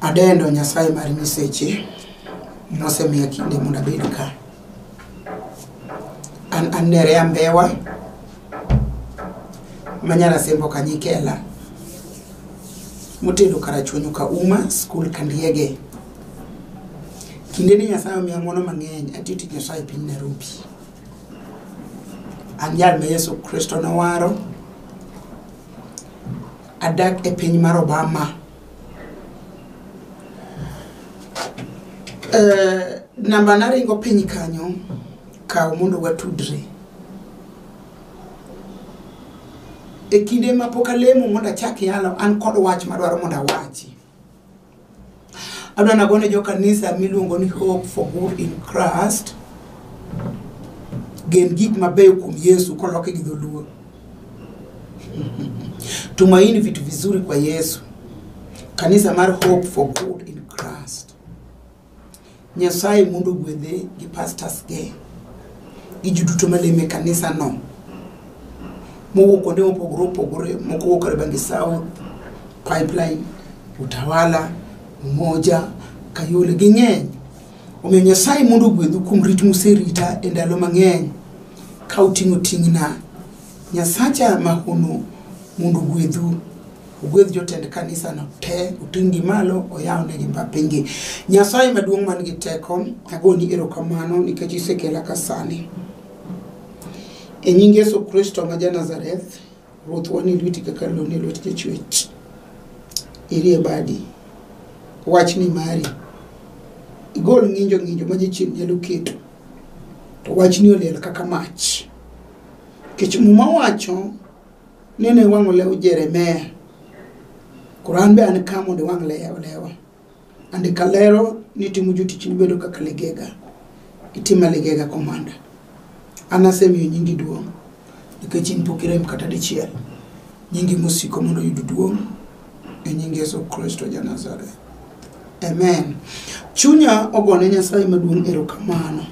Adendo Nyasaye mar nyiseche mosemiya kinde mondo abed ka. An an Nerea Mbewa ma Nyarasembo Kanyikela motedo Karachuonyo Kauma skul Kandiege. Kinde ni Nyasaye omiya ng'wono mang'eny atiyo tich Nyasaye e piny Nairobi. An jal ma Yesu Kristo nowaro Adak e piny mar Obama. Uh, namba naringo piny kanyo kaw mondo watudre e kinde ma pok alemo mondo achak yalo an kod wach madwaro mondo awachi adwa nagone jo kanisa miluongo ni hope for good in christ gen gik mabeyo kuom yesu koloke gi dholuo tumaini vitu vizuri kwa yesu kanisa mar hope for good in christ Nyasaye mondo ogwedhe gi pastors ge gi ji duto maleme kanisa no mowuok kuonde mopogore opogore moko wuok Kariobangi South, Pipeline, Utawala, Umoja, Kayole ging'eny. Omiyo Nyasaye mondo ogwedhu kuom rit muserita e ndalo mang'eny ka uting'o ting'na. Nyasacha mahono mondo ogwedhu ogwedh jotend kanisano te oting'gi malo oyawnegi mbapingi nyasaye maduong' man gi teko agoni erokamano nikech isekela ka sani e nying yesu kristo ma janazareth ruoth wanie lweti kaka lone lwet jachwech irie badi wach ni mari igol ng'injo ng'injo ma jachien nyalo keto to wachni oliel kaka mach nikech muma wacho Nene iwang'o lew Jeremia. Koro an be an ka mondo iwang' lew lewa. Andika lero ni timo jotichni bedo kaka ligega. Itima ligega komanda. An asemiyo nyingi duong' nikech in pok irem kata dichiel. Nyingi mosiko mondo oyud duong' e nying Yesu Kristo ja Nazareth. Amen. Chunya ogone Nyasaye maduong' erokamano.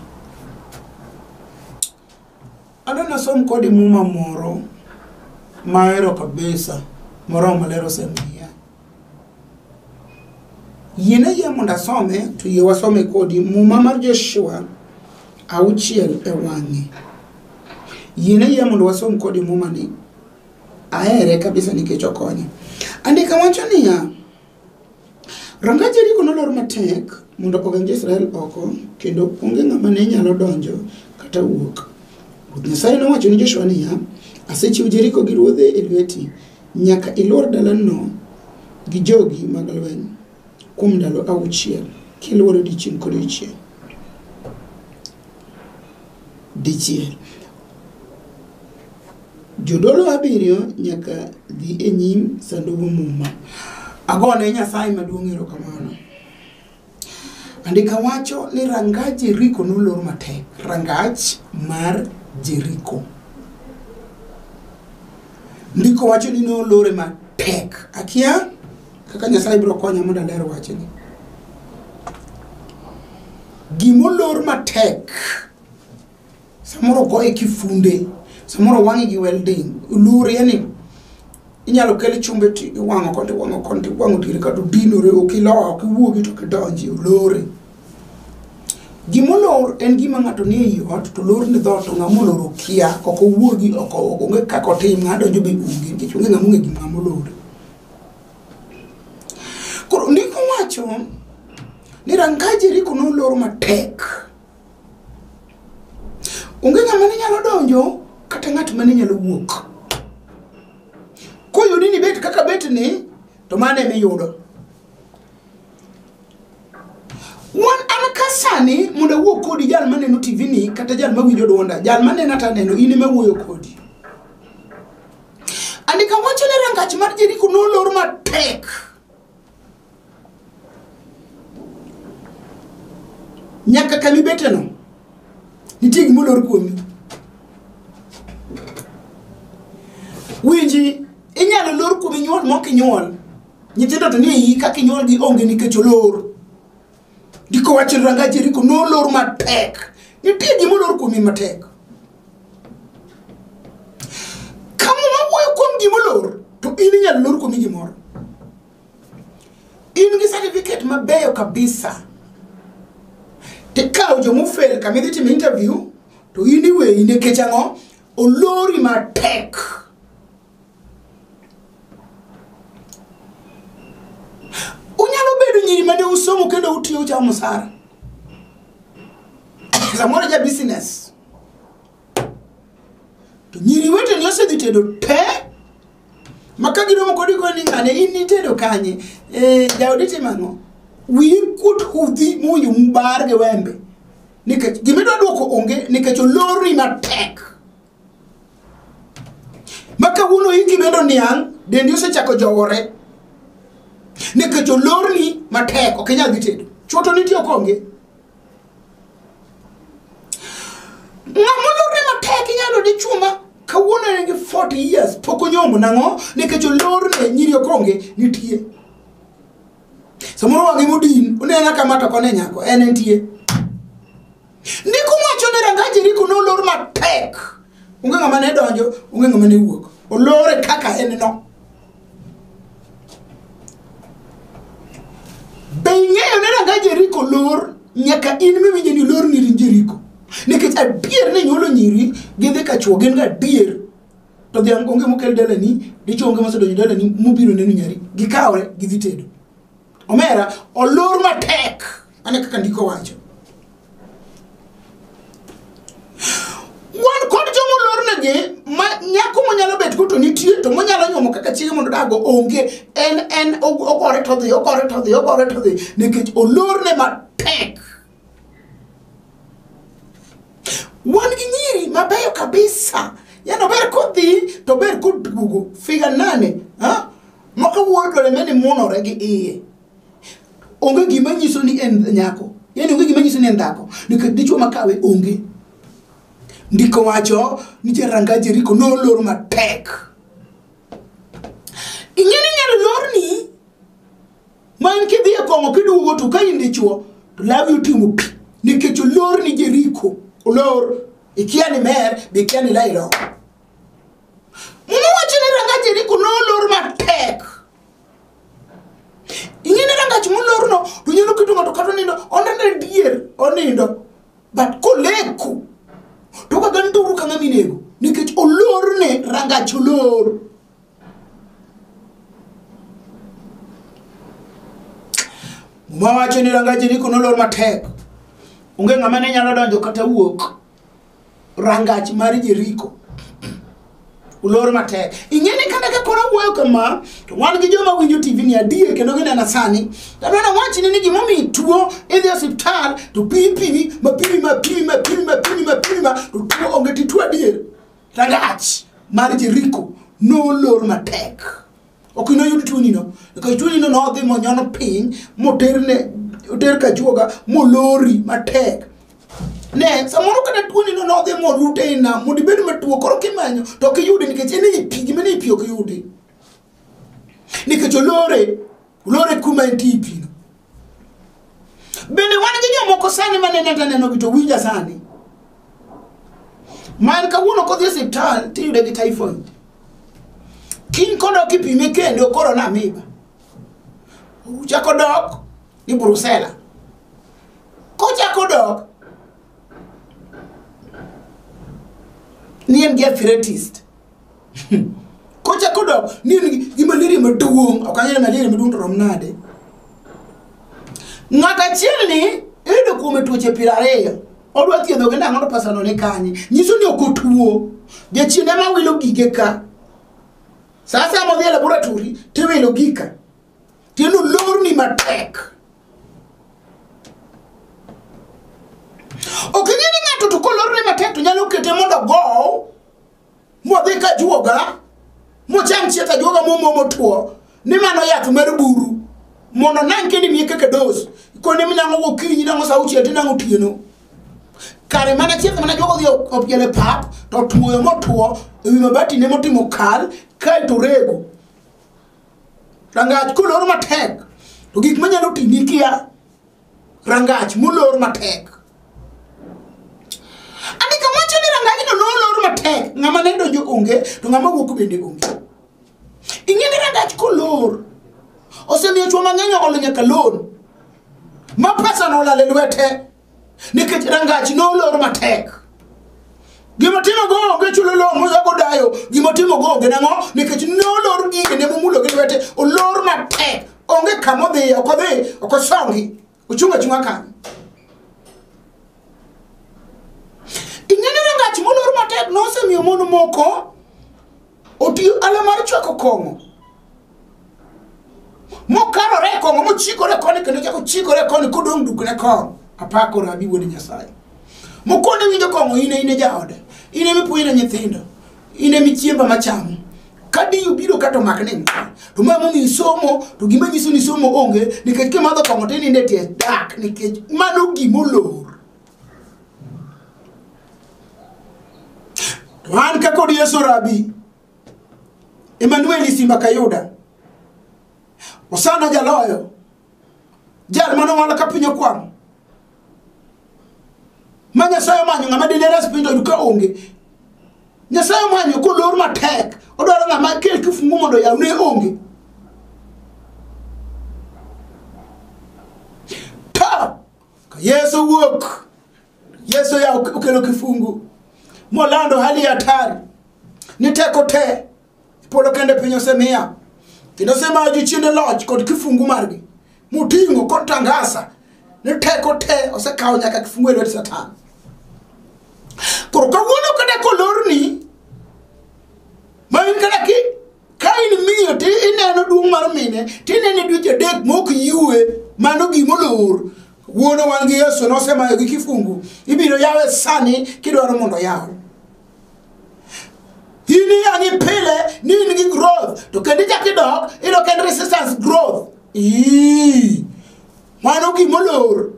Adwa nasom kodi muma moro mahero kabisa moromo maler osemiya. Yiene yie mondo asome to yie wasome kodi muma mar Joshua auchiel e wang'e. Yiene yie mondo wasom kodi mumani. Ahere kabisa nikech okonya. Andika wacho niya, Ranga Jeriko nolor matek mondo ogeng jo-Israel oko, kendo onge ng'ama ne nyalo donjo kata wuok. Ruoth Nyasaye nowacho ni Joshua niya, Asechiwo Jeriko gi ruodhe e lweti, nyaka ilwor dalano gi jogi mag lweny kuom ndalo auchiel, kilwore odiechieng' kodiechieng'. Dichiel. Jodolo abiriyo nyaka dhi e nyim Sandug Muma. Agone Nyasaye maduong' erokamano. Andika wacho ni rangaj Jeriko nolor matek. Rangach mar Jeriko. Ndiko wacho ni nolore matek. Akia kaka Nyasaye biro konya mondo aler wachni. Gimolor matek. samoro goye kifunde samoro wang'i gi welding lure yani inyalo kel chumbe ti iwang'o koni iwang'o koni to iwang'o diere kata odinore ok iloa ok iwuogi to ok idonji olore gimolor en gima ng'ato nie i ot to lor ni dhoot to ng'ama olor okia ok owuogi ok o- onge kaka otim ng'a donjo be onge nikech onge ng'ama ong'e gima ng'ama olor koro ndiko wacho ni ranga jeriko nolor matek onge ng'ama ne nyalo donjo kata ng'at ma ne nyalo wuok koyudi ni bet kaka bet ni to mano ema iyudo wan an ka sani mondo awuo kodi jal maneno tv ni kata jal mawinjo dwonda jal manena to aneno in ema wuoyo kodi andika wacho ni rangach mar jeriko nolor matek nyaka kama ibeteno nitie gima olor kuomi winji inyalo lor kuomi nyuol mok inyuol nyithindo to ni iyi kaka inyuolgi onge nikech olor ndiko wacho ranga jeriko nolor matek nitie gima olor kuomi matek kama wawuoyo kuom gima olor to in inyalo lor kuomi gimoro in gi certificate mabeyo kabisa tikawo jomofel kama idhi timo interview to in iweyi nikech ang'o olori matek unyalo bedo nyiri mane usomo kendo utiyo uchamo msara samoro ja business to nyiri weteni osedhi tedo te ma ka giromo kodi go ni ng'ane in nitedo kanye e, jaodi timang'o wiyi kuot hudhi muwinjo mubar gi wembe nikech gimidwa dwoko onge nikech olorni matek ma kawuono iki medo niang' dendi osechako jowore nikech olorni matek ok inyal dhi tedo chwoto nitie ok onge ng'ama olorne matek inyalo di chuma kawuono en gi 40 years pok onyomo nang'o nikech olorne nyiri okonge nitie samoro wang'e modin onena kama to kone nyako en entie ndiko wacho ni ranga jeriko nolor matek onge ng'ama ne donjo onge ng'ama ne wuok olore kaka en no Be ing'eyo ni ranga Jeriko lor nyaka in miwinjo ni lor ni in Jeriko? Nikech adier ni nyuolo nyiri gidhi ka chwo gin gadier to dhiang' onge mokel dalani dichwo onge mosedonjo dalani mobiro neno nyari gikawre gidhi tedo omera olor matek Ane kaka ndiko wacho. Wan kod joma olornegi ma nyako monyalo bet go to nitie to monyalo nyuomo kaka chiege mondo dago onge en en og- ogore to dhi ogore to dhi ogore to dhi nikech olorne matek. Wan gi nyiri mabeyo kabisa yani ober kodhi to ober koduogo figa nane ha? maka wuodore meni munore gi iye onge gima nyiso ni en nyako yani onge gima nyiso ni en dhako nikech dichwo makawe onge ndiko wacho nitie ranga jeriko nolor matek ing'e ni nyalo lorni ma en kidhi e kong'o kiduogo to ka in dichwo to lawi otimo pi nikech olor ni jeriko olor ikia ni mer be ikia ni lairo muma wacho ni ranga jeriko nolor matek ing'eni ka ngach molorno to nyalo keto ng'ato kata onindo onene dier onindo but koleko to kaga nduru ka ng'ama inego nikech olorne rangach olor muma wacho ni rangach eriko nolor matek onge ng'ama ne nyalo donjo kata wuok rangach mar Jeriko ulor matek ing'eni kata ka koro wuoyo kama to wan gi joma winjo tv ni adier kendo ginena sani tadwana wachni ni gimomiyo ituo idhi osiptal to pipimi mapimi mapimi mapimi mapimi mapimi ma to tuo onge tituo adier rangach mar jeriko nolor matek ok inoyud tuonino nikech tuonino nodhi monyon piny moterne oter kachuoga molori matek ne samoro kata tuonino nodhi morute e nam mondo ibed matuo koro kimanyo to ok iyude nikech en ei pi gima nei pi ok iyude nikech olore olore kuma entie e pino bende wan gi jomoko sani manene taneno gi to winja sani man kawuono kodhi e siptal tiyude gi typhoid kiny kodok ipime kendo koro namiba uchako dok ni brusela kochako dok ni en gi arthritis Kochako dok ni en gi- gi malaria maduong', ok ang'eyo malaria maduong' to rom nade. Ng'at achiel ni iyudo kuome tuoche piero ariyo. Odwa thiedho gi nang'o to pesa no ni kanye. Nyiso ni ok otuo. Jachien ema wilo gige ka. Sa asaya modhi e laboratory tiwilo gika. Tieno lorni matek. Ok ing'e ni ng'ato to kolorne matek to nyalo kete mondo ogow modhi ka juoga mocham chiet ajuoga momo motwo ni mano yath mar buru mondo nang' kendo imiye kaka dos kone minang'o gokinyi nang'o sa auchiel tinang'o otieno kare mana chieth mana jogo dhi opiel e pap to tuoyo motuo e wi mabati ne motimo kal kae to rego rangach kolor matek to gik manyalo timi kia rangach molor matek andika wacho ni rangajno nolor matek ng'ama ne donjo onge to ng'ama wuok bende onge ing'e ni rangach kolor osemiyo chwo mang'eny olo nyaka lon ma pesano olal e lwete nikech rangach nolor matek gima timo go onge chulo lowo moyago dayo gima timo go onge nang'o nikech ne olor gige ne momulo gi lwete olor matek onge kama odhiye ok odhi ok osongi ochung' achung'a kanyo ing'e ni rangach molor matek nosemiyo mon moko otiyo ala mar chwako kong'o mokarore e kong'o mochikore e koni kendo chako chikore e koni kodong' dukne kor apako rabi wuod nyasaye mokone winjo kong'o ine ine jaode ine mipuonjre nyithindo ine michiemba machamo kadiyo biro kato mak ni to ma momi isomo to gima nyiso ni somo onge nikech kimadho kong'o tininde tie dak nikech mano gimolor To an ka kod Yesu Rabi, Emanueli Simba Kayuda, Osana Jaloyo, jal mane owal ka piny okwamo, ma Nyasaye omanyo ng'ama dine res piny to ka onge. Nyasaye omanyo kolor matek, odwaro ng'ama kel kifungu mondo oyaw ne onge. Ka Yesu wuok, Yesu ya okelo kifungu molando hali ya hatari ni teko te polo kende piny osemiya kendo osemayo jochiende loch kod kifungu margi moting'o kod tangasa ni teko te osekawo nyaka kifungu e lwet satan koro kawuono kata kolorni ma in kata ki ka in miyo ti ineno duong' mar mine ti inene dweche adek mok yiwe mano gima olor wuono wan gi yesu nosemayo gi kifungu ibiro yawe sani kidwaro mondo yaw in iyang'i pile ni in gi growth to kendo ichak idok idok en resistance growth ii mano gima olor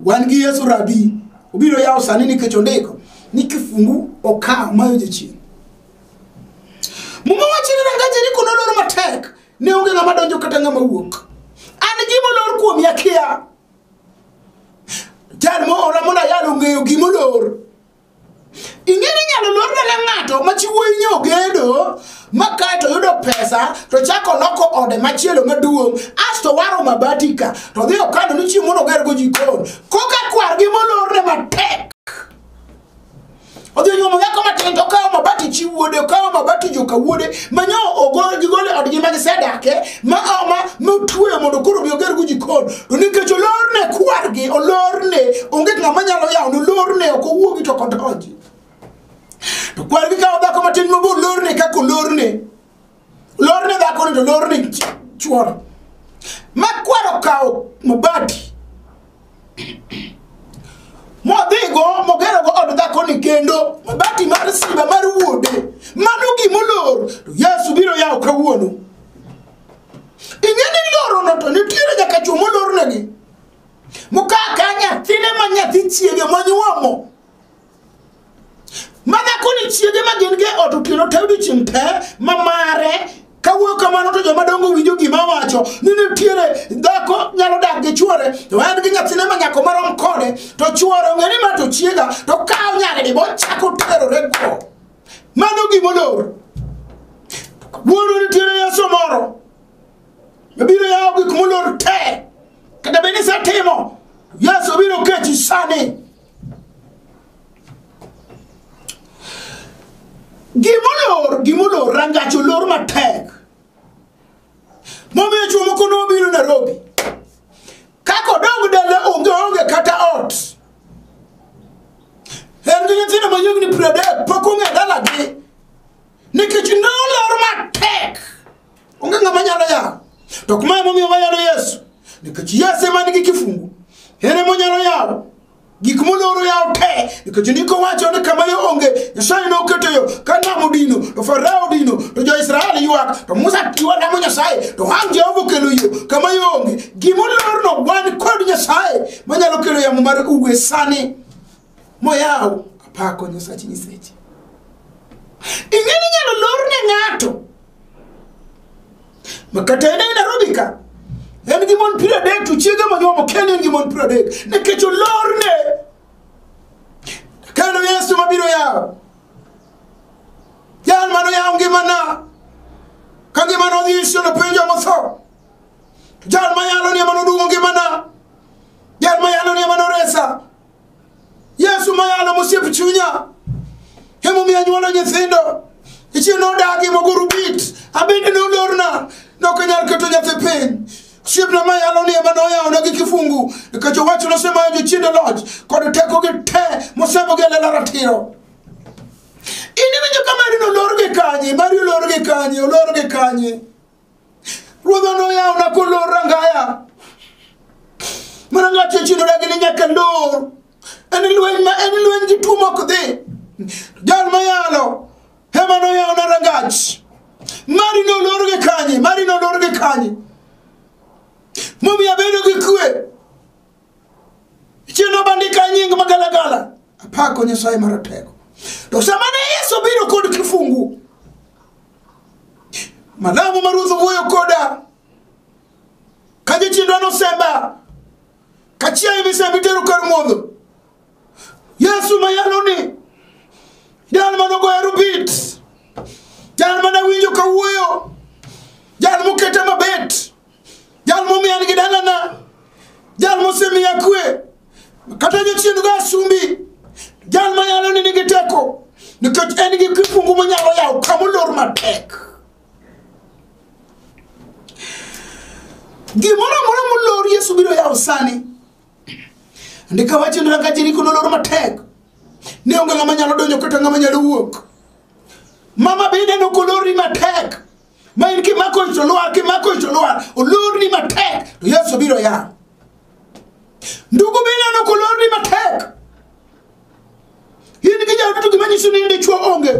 wan gi yesu rabi obiro yawo sani nikech ondiko ni kifungu okawo mayo jachien muma wacho ni rangaje ni kuno lor matek ne onge ng'ama donjo kata ng'ama wuok an gima olor kuom yakia jal moora mondo ayal ong'eyo gima olor ing'eyo ni nyalo lor dala ng'ato machiwo inyo ogedo ma kae to yudo pesa to chako loko ode machielo maduong' asto waro mabatika to dhi okano ni chieng' mondo ogergo jikon koka kwargi molorne matek odhi onyuomo dhako matin to okawo mabati chi wuode okawo mabati joka wuode manyo gigole odgi ma gisedake ma ma motweyo mondo koro obi ogergo jikon to nikech olorne kwargi olorne onge ng'ama nyalo yawo ne olorne ok owuogi to kodonji to kwargi kawo dhako matin mobo olorne kaka olorne lorne dhakoni to lorne chuoro ma kwaro kawo mabati modhigo mogerogo od dhakoni kendo mabati mar simba mar wuode mano gimolor to yesu biro yawo kawuono ing'e ni lorono to nitiere nyaka chuo molornegi mokaka nyathine ma nyathi chiege monyuomo madhako ni chiege ma gin ge ot otieno te odiochieng' te ma mare kawuoyo kamano to joma dongo winjo gima wacho ni nitiere dhako nyalo dak gi chuore to en gi nyathine ma nyako marom kode to chuore ong'e ni ma to chiega to kawo nyaridi bochako terore go mano gimolor wuono nitiere yeso moro mabiro yawo gik molor te kata bed ni setimo yeso biro kechi sani gimolor gimolor rangach olor matek momiyo chuo moko nobiro nairobi kaka odong dala onge onge kata ot en gi nyithindo ma yiegni piero adek pok ong'e dalagi nikech nolor matek onge ng'ama nyalo yawo to kuma emomiyo wayalo yesu nikech yesu ema nigi kifungu en emonyalo yawo gik moloro yawo te nikech ndiko wacho ni kama yo onge nyasaye ne oketo yo ka nam odino to farao odino to jo-israel ywak to musa tiwa lamo nyasaye to ang jehova okelo yo kama yo onge gimolorno wan kod nyasaye manyalo kelo yamo mar uwe sani moyaw apako nyasach nyiseche ing'eni inyalo lor ne ng'ato makata en e nairobi ka en gi mon piero adek to chiege monyuomo ken en gi mon piero adek nikech olor ne kendo yesu mabiro yawo jal mano yawo ngimana ka ngimana odhi iso nopenjo motho jal ma yalo ni ema nodwogo ngimana jal ma yalo ni ema noresa yesu ma yalo mosiep chunya emomiyo anyuolo nyithindo ichie nodagi moguru bit abende nolorna nokanyal keto nyathi piny osiepna ma yalo ni ema noyawona gi kifungu nikech owacho nosemayo jochiende loch kod tekogi te mosembogi e lela ratiro in iwinjo ka mari nolor gi kanye mari olor gi kanye olor gi kanye Ruodha noyawna kolor rangaya. Mana ng'ato ochidora gi ni nyaka lor. En lweny ma en lweny gi tuo mok dhi. Jal ma yalo ema noyawna rangach. Mari nolor gi kanye, mari nolor gi kanye. Momiyo abedo gi kwe. Chieng' nobandika nying magalagala. Apako Nyasaye maratego. To sama ne Yesu biro kod kifungu, Malamu ma Ruoth owuoyo koda ka jachiendwa nosemba ka chiaye misembi tero kar modho Yesu ma yalo ni jal ma nogoyo rubit jal ma nawinjo kawuoyo jal moketa mabet jal momiya nigi dalana jal mosemiya kwe kata jachien go asumbi jal manyalo ni nigi teko nikech en gi kifungu monyalo yawo kamolor matek gimoro amora molor yesu biro yawo sani ndika wacho ni ranga jeriko nolor matek ne onge ng'ama nyalo donjo kata ng'ama nyalo wuok mama bende nokolori matek ma in kimako ich to lwar kimako ich to lwar olorni matek to yesu biro yawo ndugu bineno kolorni matek in gi jaodu to gima nyiso ni in dichwo onge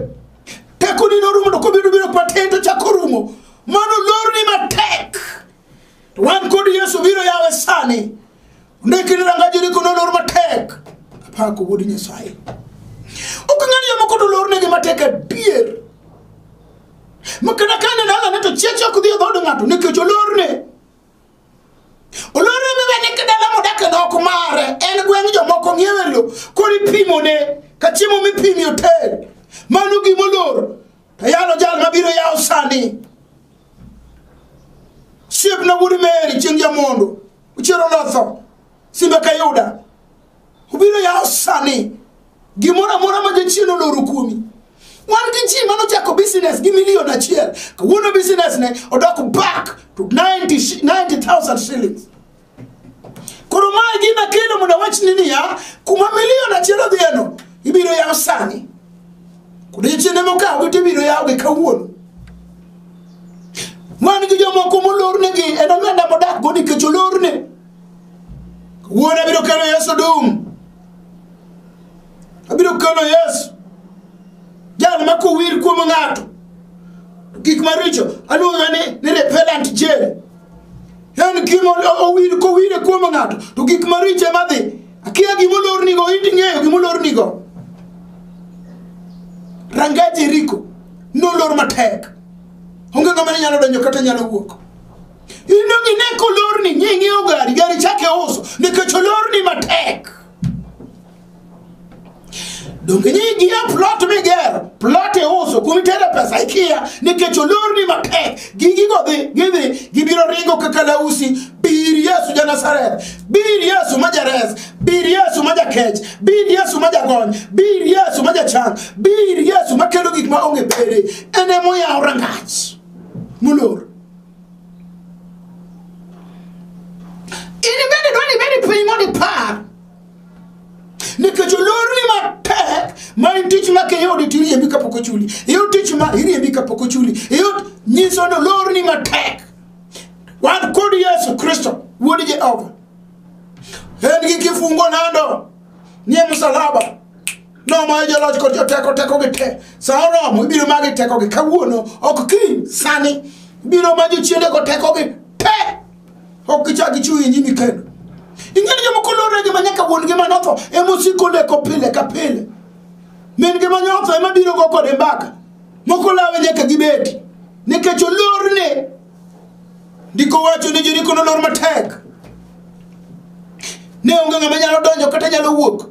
tekoni norumo to kobiro biro paten to chako rumo mano olorni matek To wan kod Yesu biro yawe sani. Ndikini ranga jiri kuno lor matek. Apako wuod Nyasaye. Ok ng'ani yamo kod lor negi matek adier. Makana kane dala ne to chiech ok dhi e dhood ng'ato nikech olorne. Olorne miwe ni kidala modak e nok mare en gweng' jomoko ng'iewe lo kori pimone ka chiemo mipimi oter. Mano gimolor. To yalo jal ma biro yawo sani. Siep na wuod Meri chieng' jamondo. Uchero lotho. Simbe kayuda. Ubiro yawo sani. Gimoro amora ma jachien oloro kuomi. Wan gi ji mano chako business gi milion achiel. Kawuono business ne odok back to 90 shi- 90,000 shillings. koro ma e gima kelo mondo awachni niya kuma milion achiel odhiyeno ibiro yaw sani odiechiende mokawogi to ibiro yawgi kawuono wan gi jomoko molornegi en oganda modakgo nikech olorne kawuono abiro kelo yesu dum abiro kelo yesu jal ma kowir kuom ng'ato gik maricho aluonga ni ni repellent jail en gima owir kowire kuom ng'ato to gik maricho ema dhi akia gima olornigo iti ng'eyo gima olornigo ranga jeriko nolor matek onge ng'ama ne nyalo donjo kata nyalo wuok ino gine kolorni nying'iewo gari gari chake uso nikech olorni matek donge nyinyi gia plot migero plot iuso kuma itere pesa ikiya nikech olorni mapek gigigo dhi gidhi gibiro ringo kaka lausi bir yesu ja nazareth bir yesu ma jares bir yesu ma jakech bir yesu ma jagony bir yesu ma jachang bir yesu ma kelo gik ma onge bere en emoyawo rangach molor in bende dwani ibedi piny mondo ipar nikech olorni matek ma en tich ma kiyudi to iriembi kapok ochuli iyud tich ma iriembi kapok ochuli iyud nyiso ni olorni matek wan kod yesu kristo wuod jehova en gi kifungo nando nie msalaba nomayo joloch kod joteko tekogi te sa oromo ibiro magi tekogi kawuono ok kiny sani ibiro ma jochiendego tekogi te ok gichak gichung' e nyimi kendo ing'e ni jomoko loregi ma nyaka wuon ngima notho emosiko leko pile ka pile min ngima nyotho ema biro go kode mbaka moko lawe nyaka gibedi nikech olorne ndiko wacho ni joriko nolor matek ne onge ng'ama nyalo donjo kata nyalo wuok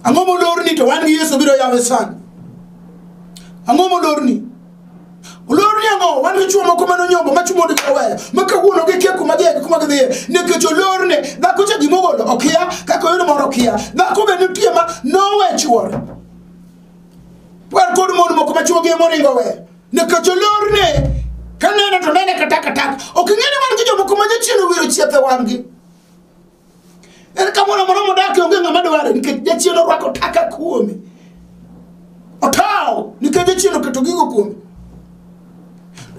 ang'o molorni to wan gi yesu biro yawe sana ang'o molorni Olor niango wan gi chuo moko mane onyombo ma chuo mondo oweyo ma kawuono gikia kuma gidhiye gi kuma gidhiye nikech olorne dhako cha gima ogolo okia kaka oyudo moro okia dhako be nitie ma nowe chuore wan kod mon moko ma chuo gi ema oringo oweyo nikech olorne kanene to nene katakataka ok ing'e ni wan gi jomoko ma jachien owiro chieth e wang'gi En ka moro moro modakie onge ng'ama dware nikech jachien orwako taka kuome. Otawo nikech jachien oketo gigo kuome.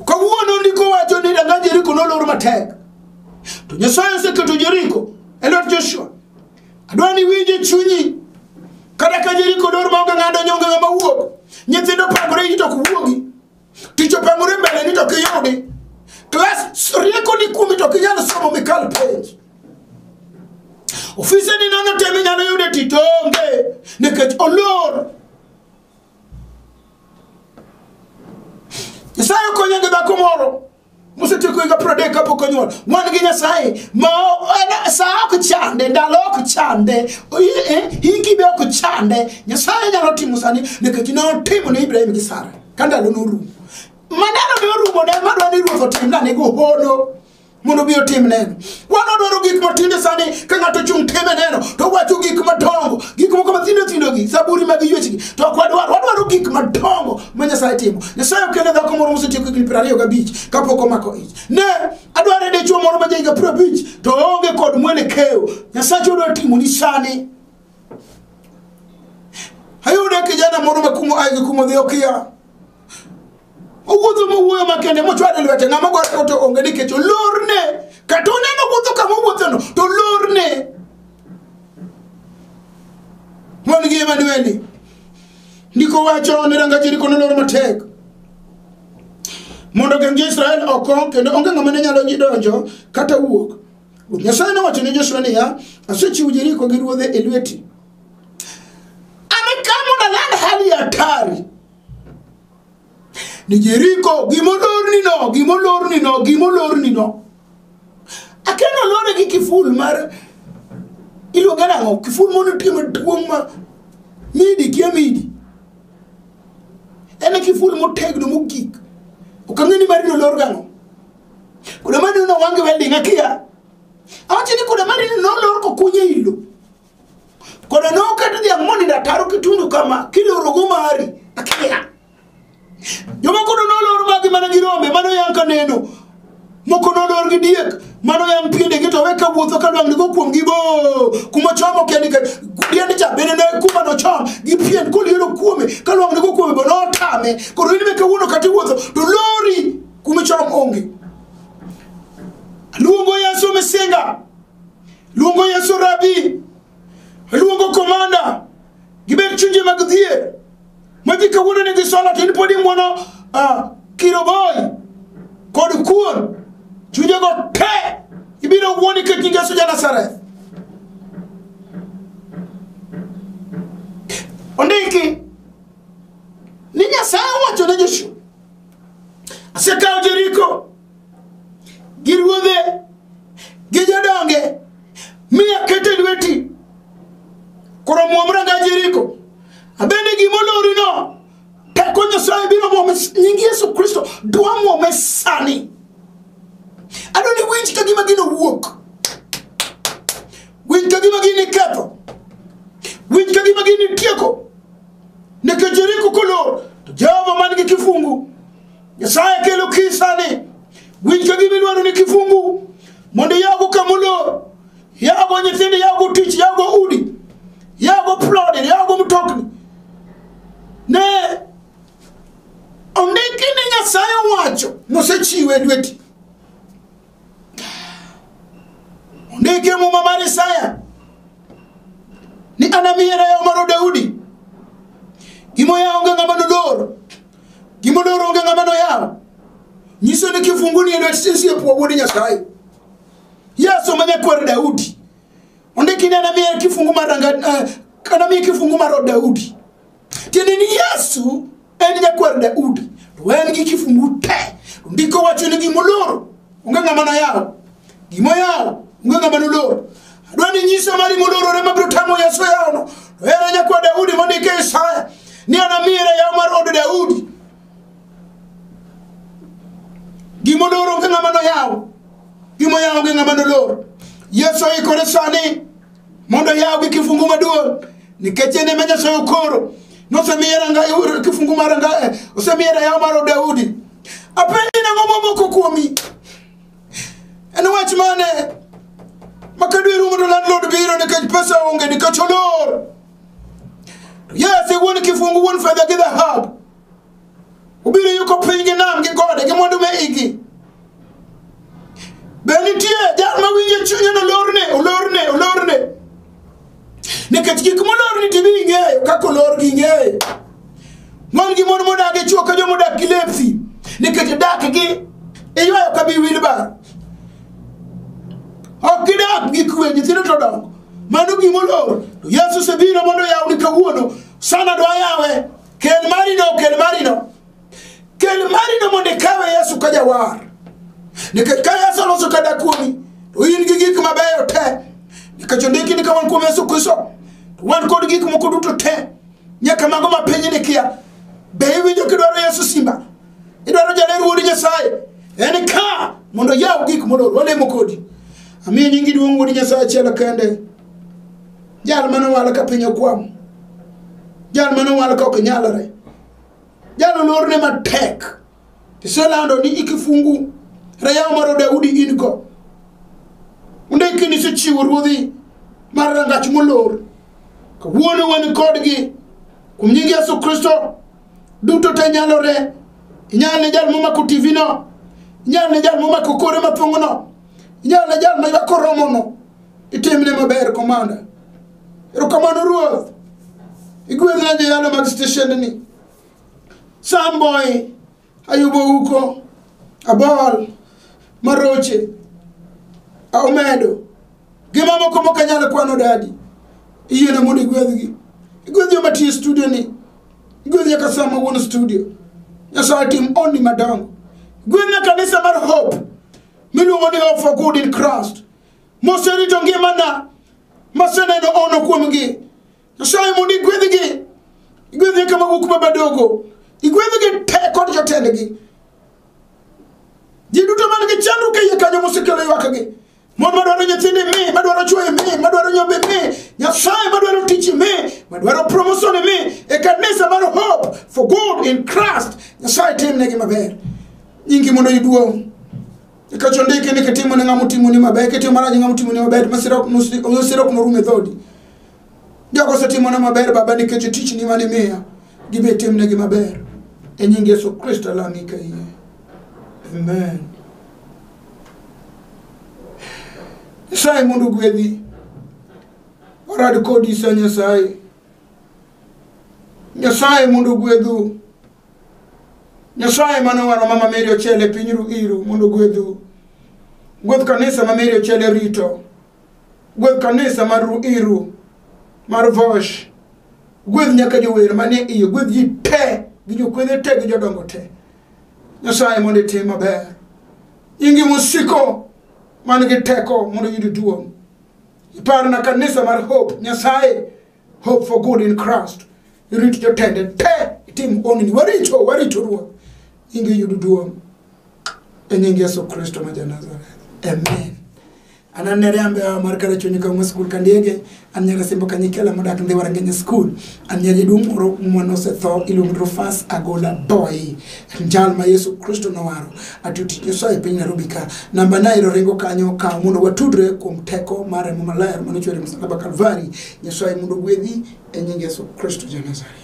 Kawuono ndiko wacho ni danga Jeriko nolor matek. To Nyasaye oseketo Jeriko e lwet Joshua. Adwa ni winje chunyi kata ka Jeriko lor maonge ng'ado nyonge ng'ama wuok. Nyithindo pangore ito ok wuogi. tich opangore mbele ni to kiyudi klas rieko ni kuomi to kinyalo somo mikal penj ofise ni nono tem inyalo yude tich onge nikech olor nyasaye okonyo gi dhako moro mosetieko higa piero adek kapok onyuol wan gi nyasaye ma o- en- sa ok chande ndalo ok chande i- eh, hiki be ok chande nyasaye nyalo timo sani nikech ne otimo ne ibrahim gi sara ka ndalo norumo maneno ne orumo ne madwa ni ruoth otimna nego hono mondo obi otimneno wan wadwaro gik matinde sani ka ng'ato ochung' time neno to wacho gik madongo gik moko mathindo thindogi zaburi mag yuechgi to ok wadwaro wadwaro gik madongo ma nyasaye timo nyasaye okele dhako moro mosetieko higni piero ariyo gabich kapok omako ich ne adwaro e dichwo moro ma jahiga piero abich to oonge kod mwelekeo nyasache odwa timoni sani ayudo kijana moro ma kumo aigi kumo dhi okia owuotho mowuoyo makende mochwado lwete ng'ama gore koto onge nikech olorne kata oneno wuotho kama owuothono to olorne mon gi emanueli ndiko wacho ni ranga jeriko nolor matek mondo geng' jo-israel oko kendo onge ng'ama ne nyalo donjo kata wuok ruoth nyasaye nowacho ne joshua niya asechiwo jeriko gi ruodhe e lweti amekaa mondo aland hali ya hatari ni jeriko gimolorni no gimolorni no gimolorni no akeno lore gi kiful mar iluonge nang'o kiful mondo otie maduong' ma midi kia midi en e kiful motegno mogik ok ang'e ni marino lor gang'o kuda marino nowange welding akia awacho ni kuda marino nolor kokunye ilo kono nokata dhiang' monindo ataro kitundu kama kilorogo mari akia joma kono nolor magi mana gi rombe mano yang' ka neno moko nolor gi diek mano yang' piendegi to we ka wuotho ka lwang'nigo kuomgi bo kuma chomo kendi ka diend cha bende ne kuma nochom gi pien koliero kuome ka lwang'nigo kuome bo notame koro in be kawuono kata iwuotho to lori kuma chom onge aluongo yesu misinga luongo yesu rabi luongo komanda gibed chunje mag dhier ma ji kawuono nigi sola to in pod ing'wono ah, kiroboy kod kuon chunjego te ibiro wuo nikech nying yesu ja nazareth ondiki ni nyasaye owacho ne joshua asekawo jeriko gi ruodhe gi jodonge mi akete lweti koro muom ranga jeriko abende gimolorino teko nyasaye biro muome nying yesu kristo dwa muome sani adwa ni winj ka gima gino wuok winj ka gima gini ketho winj ka gima gini tieko nekech jeriko kolor to jehova man gi kifungu nyasaye kelo kisani winj ka gima idwaro ni kifungu mondo iyago kamolor yago nyithindo yago tich yago udi yago plode yago mtokni ne ondiki ni nyasaye owacho nosechiwe lweti ondiki e muma mar isaya ni anamiye rayaw maro daudi gimoya onge ng'ama nolor Gima odoro onge ng'ama noyawo. Nyiso ni kifungu ni e lwet sisi e puo wuod Nyasaye. Yesu ma nyakwar Daudi. Ondiki ni anamiye kifungu mar ranga eh, anamiye kifungu mar od Daudi. Tiende ni Yesu en nyakwar Daudi. To en gi kifungu te. Ndiko wacho ni gima oloro onge ng'ama noyawo gima oyawo onge ng'ama nolor adwa ni nyisa mari molorore mabiro tamo yesu yawno to ere nyakwa daudi mondike isaya ni anamiyere yaw mar od daudi gima olor onge ng'ama noyawo gima oyawo onge ng'ama nolor yesu oikore sani mondo yawgi kifungu maduong' nikech en ema nyasaye okoro nosemiye ranga- kifungu mar ranga- eh, osemiye rayaw mar daudi apenji nang'o momoko kuomi en wach mane makadwe rumo to landlord biro nikech pesa onge nikech olor yes wuon kifungu wuon fedha gi dhahabu Ubiro yuko piny gi nam gi gode gi mwandu me igi. Be nitie jal ma winjo chunye no lorne, olorne, olorne. Nikech gik molorni to ibi ing'eyo kaka olorgi ing'eyo. Mon gi mon modak e chuo ka joma odak gi lepsi. Nikech dak gi iywayo ka bi wilbar. Ok gidak gi kwe nyithindo to dongo. Mano gimolor. Yesu osebiro mondo oyawni kawuono. Sana dwa yawe. Kel marino, kel marino. Kel marino mondo ikawe Yesu ka jawar. Nikech ka Yesu oloso kada kuomi, to in gi gik mabeyo te. Nikech ondiki ni ka wan kuom Yesu Kristo, to wan kod gik moko duto te. Nyaka mago ma piny ni kia. Be iwinjo kidwaro Yesu simba? Idwaro jaler wuod Nyasaye? En ka mondo yaw gik mondo olemo kodi. Amiyo nyingi duong' wuod Nyasaye achiel kende. jal mane owal ka piny okwamo jal mane owal ka ok nyalre jal olorne matek iselando ni ikifungu rayaw maro daudi in go ondikini isechiwo ruodhi mar rangach molor kawuono wan kodgi kuom nying yesu kristo duto te nyalore inyal ne jal momako tv no inyal ne jal momako kore mapong'ono inyalo ne jal ma ywak oromono itimne maber komanda erokamano ruoth igwedhna joyalo mag steshendni samboy ayubo uko abol maroche omedo gi mamoko mok anyalo kwano dadi iyiena mondo igwedhgi igwedh joma tiyo e studio ni igwedh nyaka sa ma wuon studio nyasaye tim onni madongo gwedhna kanisa mar hope miluongo ni hope for good in Christ moserito ngimana maseneno ono kuomgi nyasaye mondo igwedhgi igwedhgi kama wuok ma badogo igwedhgi te kod jotendgi ji duto man gi chandruok e iye kanyo mosekelo ywakgi mon madwaro nyithinde mi madwaro chwoye mi madwaro nyombe mi nyasaye madwaro tichi mi madwaro promosone mi e kanisa mar hope for good in christ nyasaye timnegi maber nyingi mondo iduong' nikech ondiki ni kitimo ne ng'ama otimoni maber kitimo marach ne ng'ama otimoni maber masira ok nos- masira ok norum e dhodi jogo osetimona maber baba nikech tichni mane imiya gibe itimnegi maber e nying yesu kristo alami ka iye amen nyasaye mondo ogwedhi warad kodi sa nyasaye nyasaye mondo ogwedhu Nyasaye mane owaro mama Mary Ochele pinyru iru mondo gwedhu. Gwedh kanisa ma Mary Ochele rito. Gwedh kanisa mar ru iru mar Vosh. Gwedh nyaka jower manie iye, gwedh ji te gi jokwedhe te gi jodongo te. Nyasaye mondo itim maber. Nyingi musiko man gi teko mondo yud duong'. Iparna kanisa mar Hope Nyasaye hope for good in Christ irit jotende te itim onini waricho waricho ruoth inge yudu duong' e nying yesu kristo ma janazareth amen an anere ambe awa mar kare chunyi kawma skul kandiege an nyara simbo kanyikela modak ndhi warangenya skul an nyari duong' moro mwanose tho iluongo drofas agola boy jal ma yesu kristo nowaro atuti nyoso e piny nairobi ka namba na ero ringo kanyo ka mondo watudre kuom teko mar remo maler manochwere msalaba kalvari nyasaye mondo gwedhi e nying yesu kristo ja nazareth